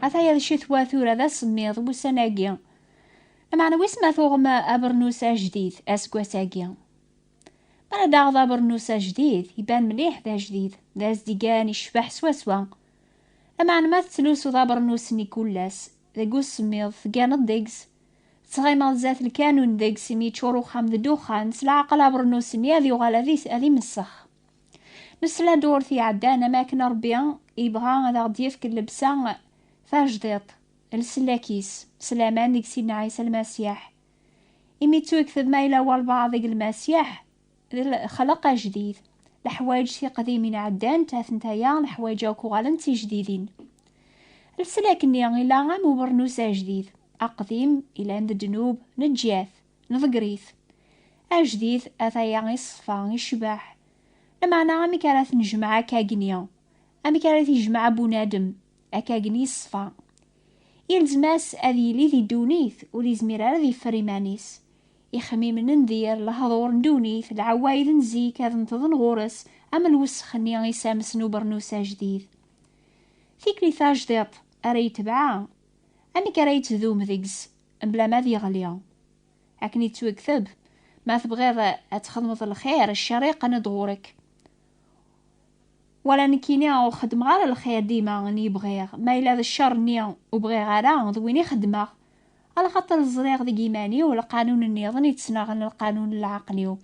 Ata ya d ccetwa tura d asemmiḍ wussan-agi. Lameɛna wis ma tuɣem abernus ajdid aseggas-agi. Mi ara daɣ d abernus ajdid, iban mliḥ d ajdid, d azdigan icbeḥ swaswa. Lameɛna ma tettlusuḍ abernus-nni kullas, deg usemmiḍ, tegganeḍ deg-s, tettɣimeḍ zdat lkanun deg-s imi yeččur uxxam d ddexxan, s leɛqel abernus-nni ad yuɣal ad imessex. Nesla-d urti iɛeddan am akken Rebbi yebɣa ad aɣ-d-yefk llebsa tajdiṭ, lsellak-is, s laman deg Sidna Ɛisa Lmasiḥ. Imi yettuyekteb ma yella walbaɛḍ deg Lmasiḥ, d lexleq ajdid. Leḥwayeǧ tiqdimin ɛeddant, atentaya leḥwayeǧ akk uɣalen d tijdidin. Lsellak-nni yella am ubernus ajdid, aqdim, yellan d ddnub, neǧǧat. Neḍger-it. Ajdid ataya iṣfa, icbeḥ. Lameɛna amek ara t-nejmeɛ akkagni? Amek ara t-ijmeɛ bunadem akkagni iṣfa? Ilzem-as ad yili di ddunit, ur izmir ara ad yeffer iman-is. Ixemmimen n dir, lehdur n ddunit, lɛewwayd n zik ad neṭḍen ɣur-s am lwessex-nni isams n ubernus ajdid. Tikli tajdiṭ ara yetbeɛ, amek ara yettdum deg-s Mebla ma ad yeɣli. Akken yettwekteb, Ma tebɣiḍ ad txedmeḍ lxir, ccer yeqqen-d ɣur-k. Wala nekkini ur xeddmeɣ ara lxir dima n i bɣiɣ, ma yella d ccer-nni ur bɣiɣ ara, d win i xeddmeɣ. Alaxaṭer ẓriɣ deg yiman-iw lqanun nniḍen yettnaɣen lqanun n lɛaqel-iw,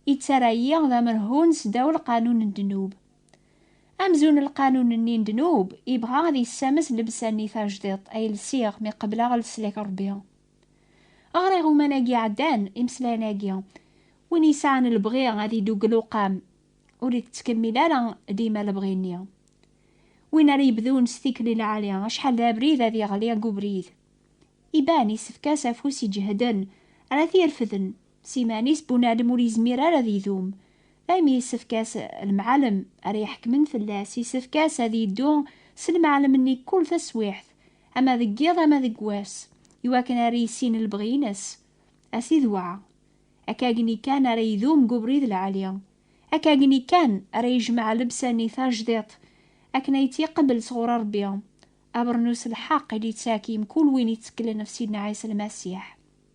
yettarra-yi d amerhun sdaw lqanun n ddnub. Amzun n lqanun-nni n ddnub yebɣa ad yessames lebsa-nni tajdiṭ ay lsiɣ mi qebleɣ leslak Rebbi. Ɣer iɣuman-agi iɛeddan, imeslayen-agi, win yesɛan lebɣi ad idugel uqam, ur ittkemmil ara dima lebɣi-nni. Win ara yebdun s tikli lɛali, acḥal d abrid ad yeɣli deg ubrid. Iban, yessefk-as afus iǧehden ara t-irefden. S iman-is bunadem ur yezmir ara ad idum, daymi yessefk-as lemɛalem ara iḥekmen fell-as, yessefk-as ad yeddu s lemɛalem-nni kkul taswiɛt, ama deg yiḍ ama deg wass, iwakken ara yissin lebɣi-ines. A Sidi Wɛa! Akkagni kan ara idum deg ubrid lɛali, akkagni kan ara yejmeɛ lebsa-nni tajdiṭ akken ay tt-iqebbel sɣur Rebbi, abernus n lḥeqq i d-yettak i mkul win yetteklen ɣef Sidna Ɛisa Lmasiḥ.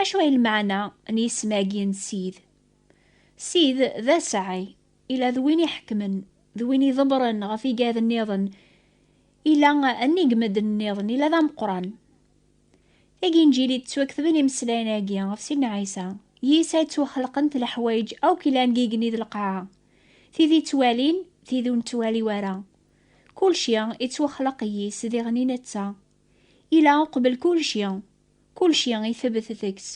Acu ay lmeɛna n yisem-agi n Sid? Sid d asaɛi, ila d win iḥekmen, d win iḍebbren ɣef igad nniḍen, ila nnig n medden nniḍen, ila d ameqqran. Tiginjil i d-ttwaketben imeslayen-agi ɣef Sidna Ɛisa, yis-s ay ttwaxelqent leḥwayeǧ akk ilan deg yigenni d lqaɛa, tid i ttwalin, tid ur nettwali wara. Kulci ittwaxleq yis-s diɣen i netta. Yella uqbel kulci, kulci itebet deg-s.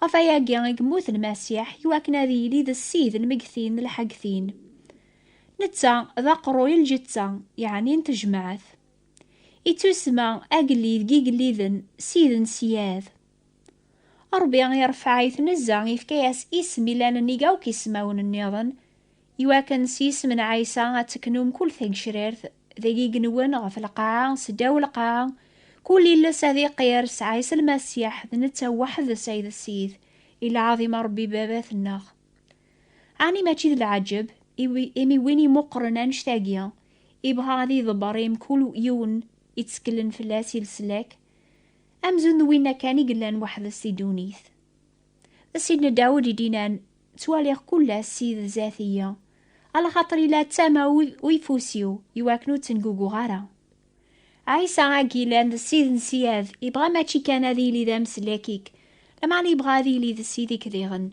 Ɣef wayagi i yemmut Lmasiḥ i wakken ad yili d Ssid n megtin d lḥegtin. Netta d aqerruy n lǧetta, yeɛni n tejmaɛt. Ittusma agellid n yigelliden, Ssid n ssyad. Ṛebbi iṛefɛayt nezza, ifka-yas isem ilan-nnig akk ismawen-nniḍen, iwakken s yisem n Ɛisa ad teknum kul tagecrirt deg igenwen ɣef lqaɛa s ddaw lqaɛa, kul iles ad iqir s Ɛisa Lmasiḥ, d netta weḥd-s ay d Ssid, i lɛaḍima Ṛebbi Baba-tneɣ. Ɛni mačči d lɛeǧǧeb, imi win imuqren annect-agi, ibɣa ad iḍebber i mkul yiwen itteklen fell-as i leslak? Amzun d winna kan i yellan weḥd-s di ddunit. D Sidna Dawed i d-yennan, Ttwaliɣ kull ass Sid zdat-iyi, alaxaṭer yella d tama uyeffus-iw i wakken ur ttenguguɣ ara. Ɛisa agi yellan d Sid n ssyad, yebɣa mačči kan ad yili d ameslak-ik, lameɛna yebɣa ad yili d Sid-ik diɣen.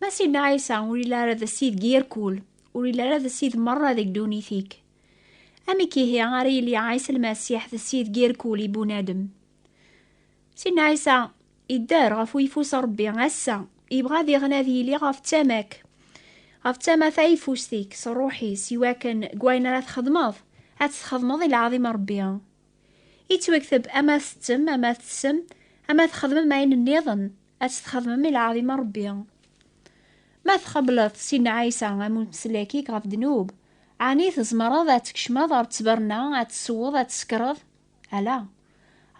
Ma Sidna Ɛisa ur yelli ara d Sid deg yirkul, ur yelli ara d Sid merra deg ddunit-ik. Amek ihi ara yili Ɛisa Lmasiḥ d Sid deg yirkul i bunadem? Sidna Ɛisa idder ɣef uyeffus n Rebbi ass-a, yebɣa diɣen ad yili ɣef tama-k, ɣef tama tayeffust-ik s ṛṛuḥ-is, iwakken deg wayen ara txedmeḍ, ad t-txedmeḍ i lɛaḍima n Rebbi. Yettwakteb ama tettem, ama tessem, ama txedmem ayen nniḍen, ad tt-txedmem i lɛaḍima n Rebbi. Ma txebleḍ si Nna Ɛisa am umeslak-ik ɣef ddnub, ɛni tzemreḍ ad tkecmeḍ ɣer ttberna, ad tessewweḍ, ad tessekreḍ? Ala!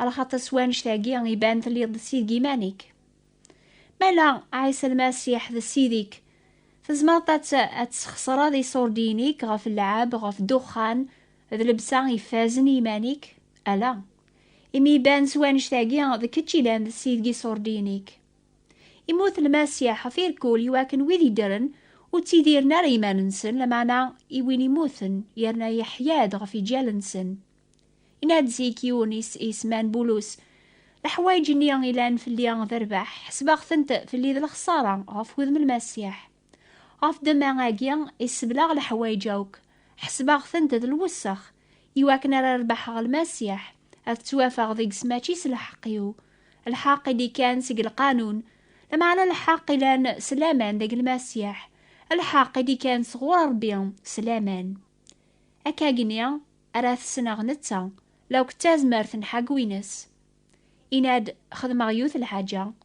Alxaṭer s wannect-agi iban telliḍ d sid n yiman-ik. Mala Ɛisa Lmasiḥ d sid-ik, tzemreḍ ad tessxeṣreḍ iṣurdiyen-ik ɣef lleɛab, ɣef ddexxan, D lebsa ifazen i yiman-ik? Ala, imi iban s wanect-agi d kečč ilan d ssid n yiṣurdiyen-ik. Immut Lmasiḥ ɣef irkul i wakken wid yeddren ur ttidiren ara i yiman-nsen, lameɛna i win immuten yerna yeḥya-d ɣef yiǧal-nsen. Yenna-d zik yiwen yesman Bulus, Leḥwayeǧ-nni ilan fell-i d rrbeḥ, ḥesbeɣ-tent fell-i d lexṣara ɣef wudem n Lmasiḥ. Ɣef ddemma-agi, isseblaɣ leḥwayeǧ akk, ḥesbeɣ-tent d lwessex, iwakken ara rebḥeɣ Lmasiḥ, ad ttwafeɣ deg-s mačči s lḥeqq-iw, lḥeqq i d-ikkan seg lqanun, lameɛna lḥeqq ilan s laman deg Lmasiḥ, lḥeqq i d-ikkan sɣur Ṛebbi s laman. Akkagni ara t-ssneɣ netta, la akk d tazmert n ḥaggu-ines. Yenna-d, Xedmeɣ yiwet lḥaǧa,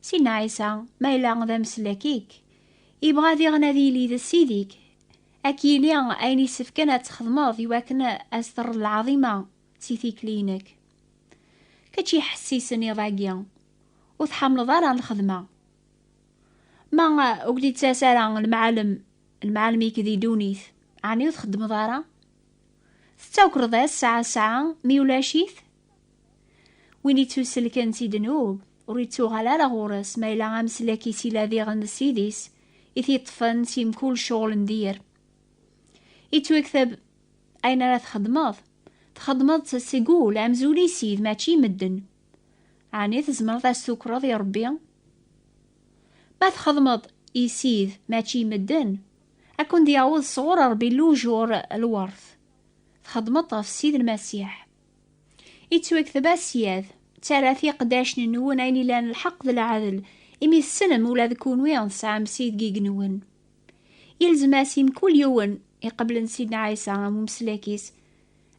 Sin Ɛisa, ma yella d ameslak-ik, yebɣa diɣen ad yili d Ssid-ik, ad k-yini ayen yessefken ad txedmeḍ i wakken ad s-terreḍ lɛaḍima si tikli-inek. Kečč iḥessisen iḍ-agi, ur tḥamleḍ ara lxedma. Ma ur k-d-ittas ara lemɛalem, lemɛalem-ik di ddunit, ɛni ur txeddmeḍ ara? Tettakreḍ-as sɛa sɛa mi ulac-it? Win ittuselken si ddnub, ur ittuɣal ara ɣur-s, ma yella ameslak-is ila diɣen d Ssid-is, i t-iṭṭfen si mkul cɣel n dir. Ittwaktab ayen ara txedmeḍ, txedmeḍ-tt seg ul, amzul i Ssid, mačči i medden. Ɛni tzemreḍ a s-tukreḍ i Rebbi? Ma txedmeḍ i Ssid, mačči i medden, a ken-d-yaweḍ sɣur Rebbi lujur, lwert. Txedmeḍ-t ɣef Ssid Lmasiḥ. Ittwekteb asyad, ttarra tiqdacn-nwen ayen ilan lḥeqq d lɛadel, imi tessnem ula d kunwi tesɛam Ssid deg yigenwen. Ilzem-as i mkul yiwen iqeblen Sidna Ɛisa am umeslak-is,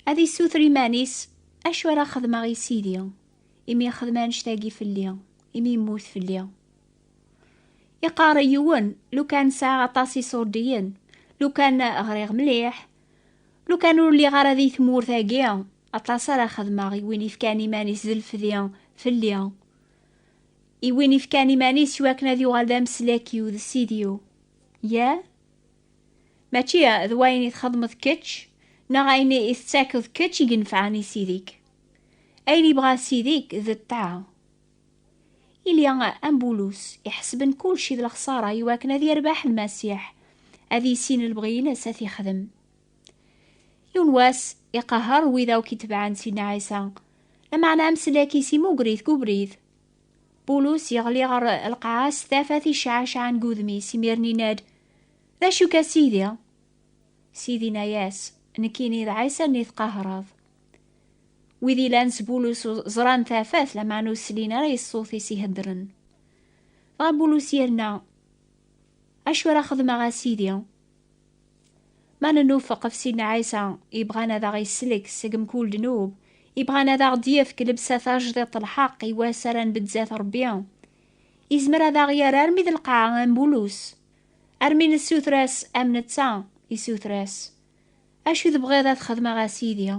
ad issuter iman-is, Acu ara xedmeɣ i Sidi, imi ixdem annect-agi fell-i, imi yemmut fell-i? Iqarr i yiwen, lukan sɛiɣ aṭas iṣurdiyen, lukan ɣriɣ mliḥ, Lu kan ur lliɣ ara di tmurt-agi, aṭas ara xedmeɣ i win ifkan iman-is d lefdi fell-i, i win ifkan iman-is i wakken ad yuɣal d ameslak-iw d ssid-iw. Yah? Mačči d wayen i txedmeḍ kečč neɣ ayen i tettakeḍ kečč i yenefɛen i ssid-ik. Ayen yebɣa ssid-ik d ṭṭaɛa. Ili am Bulus, iḥesben kulci d lexsara i wakken ad yerbeḥ Lmasiḥ, ad yissin lebɣi-ines ad t-yexdem. Yiwen wass, iqehher wid akk itebɛen Sidna Ɛisa, lameɛna amsellek-is imugger-it deg ubrid. Bulus yeɣli ɣer lqaɛa s tafat icɛacɛan deg udem-is, imiren yenna-d, D acu-k a Sidi? Sidi inna-yas, Nekkini d Ɛisa-nni tqehhreḍ. Wid ilan s bulus ẓran tafat, lameɛna ur slin ara i ṣṣut-is iheddren. Dɣa bulus yerna, Acu ara xedmeɣ a Sidi? Ma nennufeq ɣef Sidna Ɛisa, yebɣan ad aɣ-isellek seg mkul ddnub, yebɣan ad aɣ-d-yefk lebsa tajdiṭ n lḥeqq i wass ara nbedd zdat Rebbi, yezmer ad aɣ-yerr armi d lqaɛa am bulus, armi nessuter-as am netta, issuter-as. Acu tebɣiḍ ad xedmeɣ a Sidi?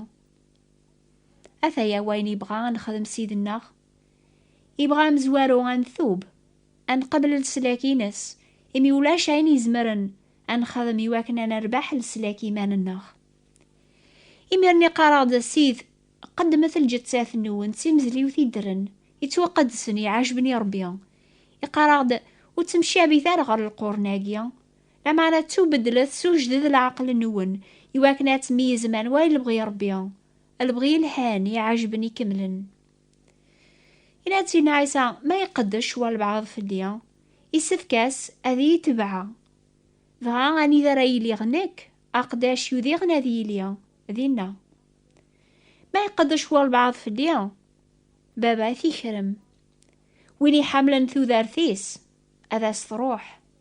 Ataya wayen yebɣa ad nexdem Sidi-nneɣ. Yebɣa amezwaru ad ntub, ad nqabel leslak-ines, imi ulac ayen izemren ad nexdem iwakken ad nerbeḥ leslak iman-nneɣ. Imir-nni qqareɣ-d Sid, qeddmet lǧettat-nwen d timezliwt i ddren, yettwaqeddsen, iɛajben i Rebbi. Iqqar-aɣ-d, ur ttemcabit ara ɣer lqurn-agi, Lameɛna ttubedlet, sewjdet leɛqel-nwen, iwakken ad tmeyyzem anwa i lebɣi n Ṛebbi, lebɣi yelhan, iɛejben, ikemlen. Yenna-d Sidna Ɛisa, Ma iqeddec walebɛaḍ fell-i, issefk-as ad iyi-itebɛa. Dɣa anida ara iliɣ nekk, aqeddac yudiɣen ad yili dinna. Ma iqeddec walebɛaḍ fell-i, Baba ad t-ikrem. Win iḥamlen tudert-is, ad as-tṛuḥ.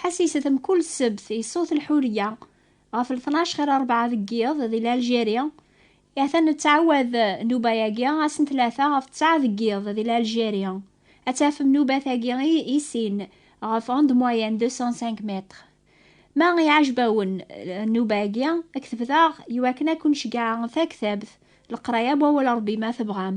Ḥassiset mkul ssebt i ṣṣut lḥuriya ɣef lṭnac xir rebɛa deg yiḍ di Lalgeri, ha-t-a nettɛawad nnuba-agi ass n tlata ɣef ttɛa deg yiḍ di Lalgeri. Ad tafem nnubat-agi i sin ɣef onde moyenne 205 mètres. Ma iɛajeb-awen nnuba-agi, ktebet-aɣ i wakken ad ken-ceggɛeɣ taktabt leqraya n wawal n Rebbi ma tebɣam.